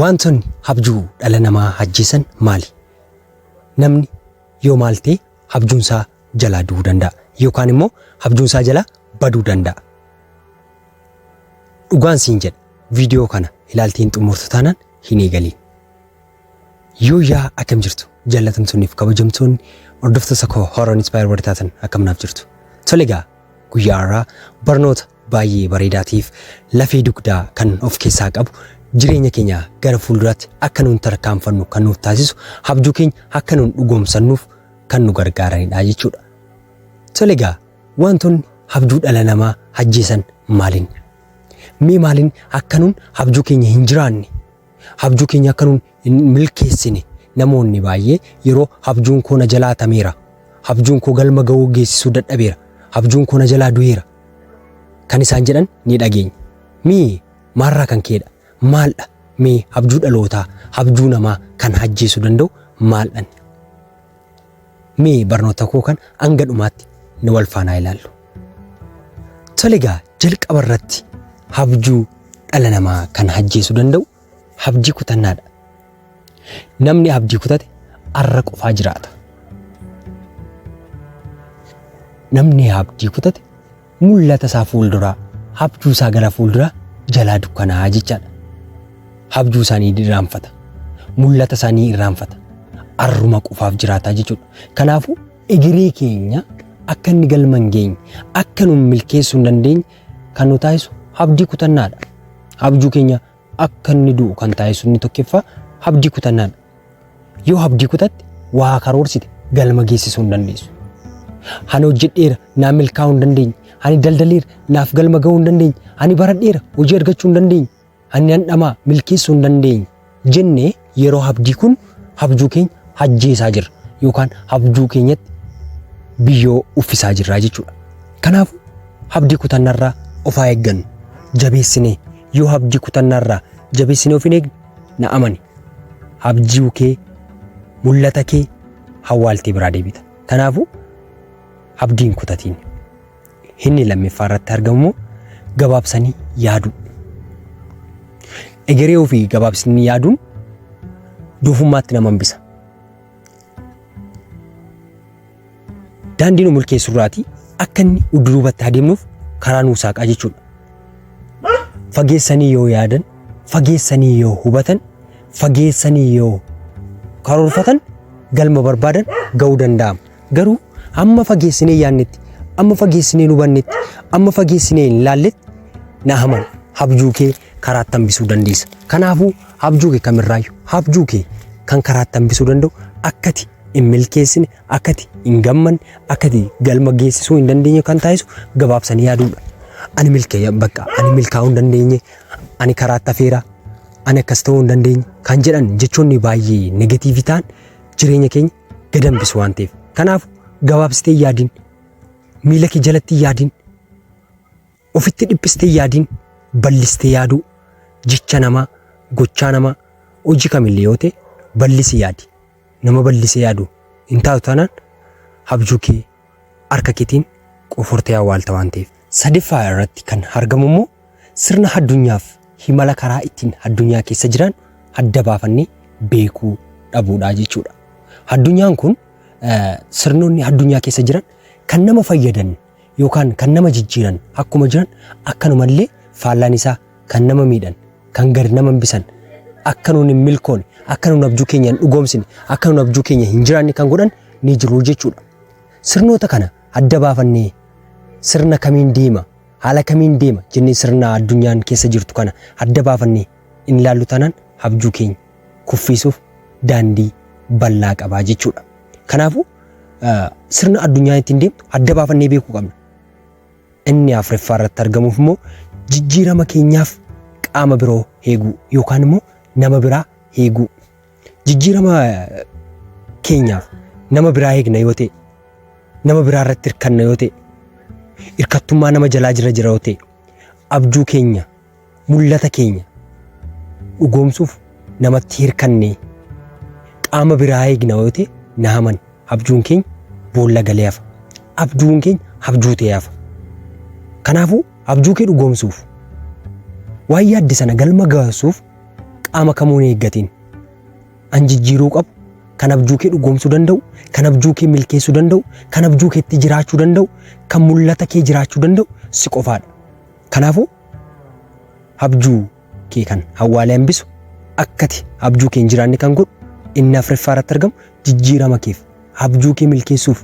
Waantonni abjuu dhala namaa ajjeesan maali? Namni yoo maal ta'e abjuunsaa jalaa du'uu danda'a yookaan immoo abjuunsaa jalaa baduu danda'a. Dhugaan siin jedha viidiyoo kana ilaaltee hin xumurtu taanaan hin eegaliin. Yoo yaa akkam jirtu jaallatamtoonniif kabajamtoonni hordoftoota koo Horror Inspire warri taatan akkam naaf jirtu. Tole egaa guyyaa har'aa barnoota baay'ee bareedaa ta'eef lafee dugdaa kan of keessaa qabu jireenya keenya gara fuulduraatti akka nuun tarkaanfannu kan nuuf taasisu abjuu keenya akka nuun dhugoomsannuuf kan nu gargaaranidha jechuudha. Tole egaa wantoonni abjuu dhala namaa ajjeesan maaliin? Mee maaliin akka nuun abjuu keenya hin jiraanne? Abjuu keenya akka nuun hin milkeessine. Namoonni baay'ee yeroo habjuun koo na jalaa hatameera, habjuun koo galma ga'uu geessisuu dadhabeera, habjuun koo na jalaa du'eera kan isaan jedhan ni dhageenya. Mee maalirraa kan ka'edha? Maaldha? Mee habjuu dhalootaa, habjuu namaa kan ajjeesuu danda'u maaldhan? Mee barnoota koo kan hanga dhumaatti ni wal faanaa ilaallu. Tole egaa jalqaba irratti habjuu dhala namaa kan ajjeesuu danda'u Abdii kutannaadha. Namni abdii kutate arra qofaa jiraata. Namni abdii kutate mul'ata isaa fuulduraa, abjuu isaa gara fuulduraa jalaa dukkanaa jechaadha. Abjuu isaa ni irraanfata. Mul'ata isaa ni irraanfata. Arruma qofaaf jiraataa jechuudha. Kanaafuu egeree keenya akka inni galma hin geenye, akka nu milkeessuu hin dandeenye kan nu taasisu abdii kutannaadha. Abjuu keenya akka inni du'u kan taasisu inni tokkoffaa abdii kutannaadha. Yoo abdii kutatte waa karoorsite galma geessisuu hin dandeessu. Ani hojjedheera naa milkaa'uu hin dandeenye. Ani daldaleera naaf galma ga'uu hin dandeenye. Ani baradheera hojii argachuu hin dandeenye. Ani nan dhamaa milkeessuu hin dandeenye jennee Yeroo habdii kun habjuu keenya hajjeesaa jirra yookaan habjuu keenyatti biyyoo uffisaa jirraa jechuudha. Kanaaf habdii kutannarraa of haa eeggannu. Jabeessinee yoo habdii kutannarraa jabeessinee of hin eegne na amani habjuu kee mul'ata kee hawwaaltee biraa deebita. Kanaafuu habdiin kutatiin. Inni lammiffaa irratti argamu immoo gabaabsanii yaaduu. Egeree ofii gabaabsanii yaaduun doofummaatti nama hambisa. Daandii nu milkeessu irraati akka inni udduubatti adeemnuuf karaa nuu saaqaa jechuudha. Fageessanii yoo yaadan, fageessanii yoo hubatan, fageessanii yoo karoorfatan galma barbaadan ga'uu danda'ama. Garuu hamma fageessinee yaannetti, amma fageessinee hin hubannetti, amma fageessinee hin laalletti Naahamaan habjuu kee karaatti hambisuu dandeessa. Kanaafuu habjuu kee kamirraayyu habjuu kee kan karaatti hambisuu danda'u akkati hin milkeessine, akkati hin gammanne, akkati galma geessisuu hin dandeenye kan taasisu gabaabsanii yaaduudha. Ani milkeeya bakka ani milkaa'uu hin dandeenye, ani karaatti hafeera, ani akkas ta'uu hin dandeenye kan jedhan jechoonni baay'ee negatiivii ta'an jireenya keenya gad hambisu waan ta'eef. Kanaaf gabaabsitee hin yaadin, miila kee jalatti hin yaadin, ofitti dhiphistee hin yaadin, bal'istee yaaduu jecha namaa, gochaa namaa, hojii kamillee yoo ta'e bal'isi yaadi. Nama bal'isee yaadu hin taatu taanaan abjuu kee harka keetiin qofortee awwaalta waan ta'eef. Sadeeffaa irratti kan argamu immoo sirna haddunyaaf himala karaa ittiin haddunyaa keessa jiraannu adda baafannee beekuu dhabuudha jechuudha. Haddunyaan kun sirnoonni haddunyaa keessa jiran kan nama fayyadan yookaan kan nama jijjiiran akkuma jiran akkanumallee faallaan isaa kan nama miidhan, kan gad nama hambisan, akka nuun hin milkoone, akka nuun abjuu keenya hin dhugoomsine, akka nuun abjuu keenya hin jiraanne kan godhan ni jiru jechuudha. Sirnoota kana adda baafannee sirna kamiin deema, haala kamiin deema jennee sirna addunyaan keessa jirtu kana adda baafannee hin ilaallu taanaan abjuu keenya kuffiisuuf daandii bal'aa qabaa jechuudha. Kanaafuu sirna addunyaan ittiin deemtu adda baafannee beekuu qabna. Inni afreeffaa irratti argamuuf immoo jijjiirama keenyaaf qaama biroo heeguu yookaan immoo nama biraa heeguu. Jijjiirama keenyaaf nama biraa heegna yoo ta'e, nama biraa irratti hirkanna yoo ta'e, hirkattummaa nama jalaa jira jira yoo ta'e, abjuu keenya mul'ata keenya dhugoomsuuf namatti hirkannee qaama biraa eegna yoo ta'e na haman abjuun keenya boolla galee hafa. Abjuun keenya abjuu ta'ee hafa. Kanaafuu abjuu kee dhugoomsuuf waan yaadde sana galma gaasuuf qaama kamuun eeggatiin an jijjiiruu qabu kan abjuu kee dhugoomsuu danda'u kan abjuu kee milkeessuu danda'u kan abjuu keetti jiraachuu danda'u kan mul'ata kee jiraachuu danda'u si qofaadha. Kanaafuu habjuu kee kan hawwaalee hambisu akkati habjuu kee hin jiraanne kan godhu inni afreffaa irratti argamu jijjiirama keef habjuu kee milkeessuuf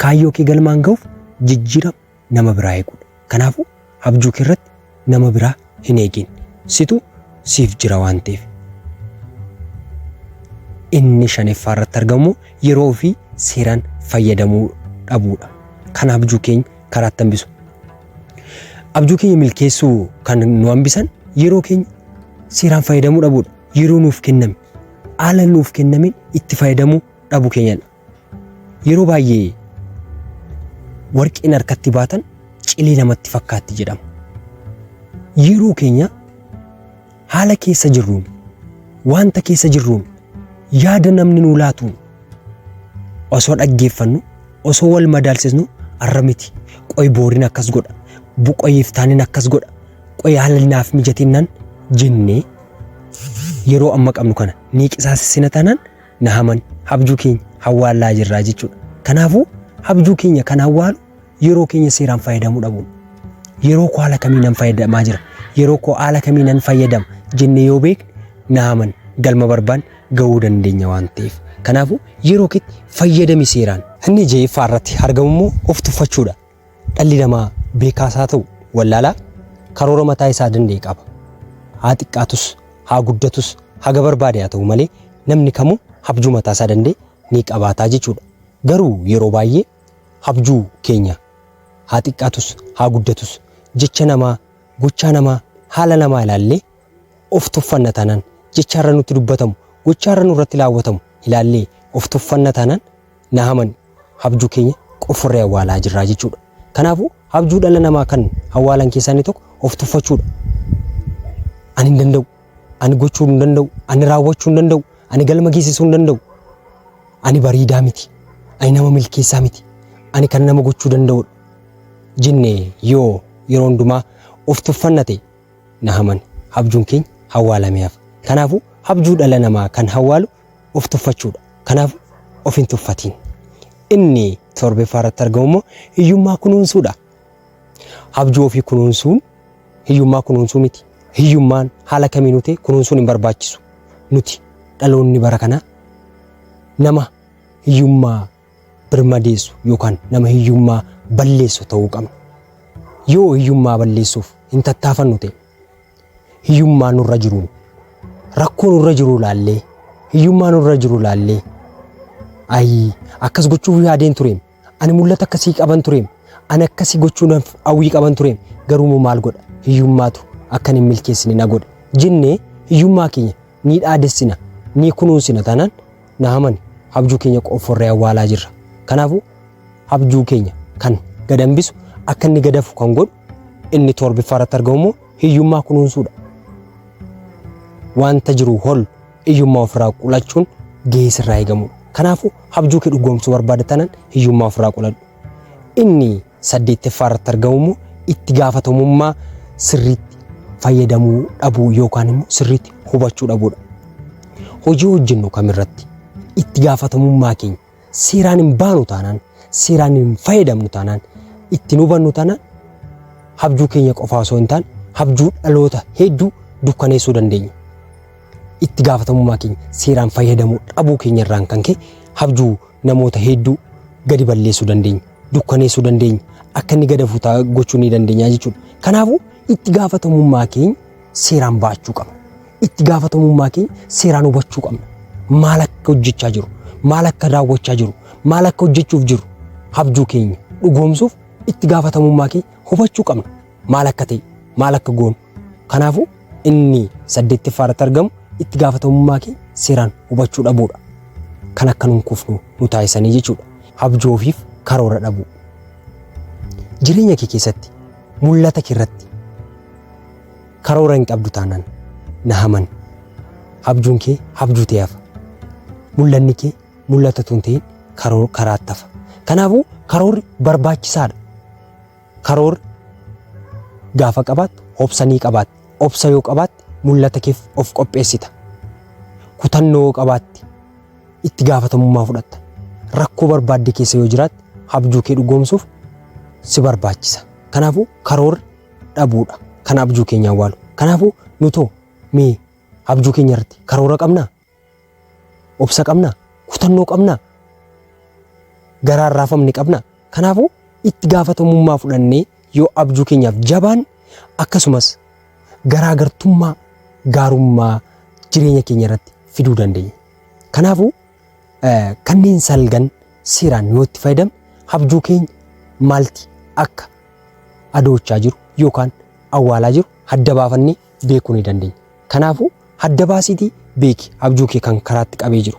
kaayyoo kee galmaan ga'uuf jijjiirama nama biraa eeguudha. Kanaafuu habjuu kee irratti nama biraa hin eegin. Situ siif jira waan ta'eef. Inni shaneffaa irratti argamu yeroo ofii seeraan fayyadamuu dhabuudha. Kan habjuu keenya karaatti hambisu. Abjuu keenya milkeessuu kan nu hambisan yeroo keenya seeraan fayyadamuu dhabuudha. Yeroo nuuf kenname haala nuuf kennameen itti fayyadamuu dhabuu keenyadha. Yeroo baay'ee warqeen harkatti baatan cilee namatti fakkaatti jedhama. Yeroo keenya Haala keessa jirruun, wanta keessa jirruun, yaada namni nuu laatuun osoo dhaggeeffannu, osoo wal madaalsisnu arra miti. Qoy boorin akkas godha. Bu qoy iftaanin akkas godha. Qoy haalli naaf mijatinnaan jennee yeroo amma qabnu kana ni qisaasessina taanaan na haman habjuu keenya hawwaallaa jirraa jechuudha. Kanaafuu habjuu keenya kan hawwaalu Yeroo keenya seeraan fayyadamuu dhabuun. Yeroo koo haala kamiin nan fayyadamaa jira? Yeroo koo haala kamiin nan fayyadama jennee yoo beekne naaman galma barbaan ga'uu dandeenya waan ta'eef. Kanaafuu yeroo keetti fayyadami seeraan. Inni jeeffaa irratti argamu immoo of tuffachuudha. Dhalli namaa beekaas haa ta'u wallaalaa karoora mataa isaa danda'e qaba. Haa xiqqaatus, haa guddatus, haga barbaade haa ta'u malee namni kamuu abjuu mataa isaa danda'e ni qabaataa jechuudha. Garuu yeroo baay'ee Habjuu keenya haa xiqqaatus haa guddatus jecha namaa, gochaa namaa, haala namaa ilaallee of tuffanna taanaan, jecha har'a nutti dubbatamu, gochaa har'a nurratti laawwatamu ilaallee of tuffanna taanaan na hamani habjuu keenya qofforree awwaalaa jirraa jechuudha. Kanaafuu habjuu dhala namaa kan awwaalan keessaa inni tokko of tuffachuudha. Ani hin danda'u. Ani gochuu hin danda'u, ani raawwachuu hin danda'u, ani galma geessisuu hin danda'u. Ani bareedaa miti, ani nama milkeessaa miti, ani kan nama gochuu danda'udha. Jenne yoo yeroo hundumaa of tuffanna ta'e na haman habjuun keenya hawwaalamee hafa. Kanaafuu habjuu dhala namaa kan hawwaalu of tuffachuudha. Kanaafuu of hin tuffatiin. Inni torbeeffaa irratti argamu immoo hiyyummaa kunuunsuudha. Abjuu ofii kunuunsuun hiyyummaa kunuunsuu miti. Hiyyummaan haala kamiinuu ta'e kunuunsuun hin barbaachisu. Nuti dhaloonni bara kanaa nama hiyyummaa birmadeessu yookaan nama hiyyummaa balleessu ta'uu qabna. Yoo hiyyummaa balleessuuf hin tattaafannu ta'e hiyyummaa nurra jiruun rakkoo nurra jiru ilaallee hiyyummaa nurra jiru ilaallee ayii akkas gochuuf yaadeen tureem Ani mul'ata akkasii qaban tureem. Ani akkasii gochuudhaaf hawwii qaban tureem. Garuu immoo maal godha? Hiyyummaatu akkan hin milkeessine na godhe. Jennee hiyyummaa keenya ni dhaadessina, ni kunuunsina taanaan Naaman abjuu keenya qofforree awwaalaa jirra. Kanaafuu abjuu keenya kan gad hambisu akka inni gadafu kan godhu inni torbiffaarratti argamu immoo hiyyummaa kunuunsuudha. Wanta jiru hol Hiyyummaa ofirraa qolachuun gahee sirraa eegamudha. Kanaafuu habjuu kee dhugoomsuu barbaada tanan hiyyummaa ofirraa qoladhu. Inni saddeetteffaa irratti argamu immoo itti gaafatamummaa sirriitti fayyadamuu dhabuu yookaan immoo sirriitti hubachuu dhabuudha. Hojii hojjennu kamirratti itti gaafatamummaa keenya Seeraan hin baanu taanaan, seeraan hin fayyadamnu taanaan, itti hin hubannu taanaan habjuu keenya qofaa osoo hin taane habjuu dhaloota hedduu dukkaneessuu dandeenya. Itti gaafatamummaa keenya seeraan fayyadamuu dhabuu keenya irraan kan ka'e habjuu namoota hedduu gadi balleessuu dandeenya, dukkaneessuu dandeenya, akka inni gadafu ta'a gochuu ni dandeenya jechuudha. Kanaafuu itti gaafatamummaa keenya seeraan ba'achuu qabna. itti gaafatamummaa keenya seeraan hubachuu qabna. Maal akka hojjechaa jiru, maal akka raawwachaa jiru, maal akka hojjechuuf jiru habjuu keenya dhugoomsuuf itti gaafatamummaa keenya hubachuu qabna. Maal akka ta'e, maal akka goonu. Kanaafuu inni saddeettaffaa irratti argamu itti gaafatamummaa keenya seeraan hubachuu dhabuudha. Kan akka nun kufnu nu taasisanii jechuudha. Habjuu ofiif karoora dhabuu. Jireenya kee keessatti mul'ata kee irratti Karoora hin qabdu taanaan na haman. Abjuun kee abjuu ta'ee hafa. Mul'anni kee mul'ata tun ta'in karoo karaatti hafa. Kanaafuu karoorri barbaachisaadha. Karoorri gaafa qabaattu obsa ni qabaatta. Obsa yoo qabaatte mul'ata keef of qopheessita. Kutannoo yoo qabaatte itti gaafatamummaa fudhatta. Rakkoo barbaadde keessa yoo jiraatte abjuu kee dhugoomsuuf si barbaachisa. Kanaafuu karoorri dhabuudha kan abjuu keenya awwaalu. Kanaafuu nutoo mee abjuu keenya irratti karoora qabnaa? Obsa qabnaa? Kutannoo qabnaa? Garaan raafamne qabnaa? Kanaafuu itti gaafatamummaa fudhannee yoo abjuu keenyaaf jabaan akkasumas garaagartummaa gaarummaa jireenya keenya irratti fiduu dandeenya. Kanaafuu Kanneen salgan seeraan yoo itti fayyadame habjuu keenya maalti akka adoochaa jiru yookaan awwaalaa jiru hadda baafannee beekuu ni dandeenya. Kanaafuu hadda baasiitii beeki habjuu kee kan karaatti qabee jiru.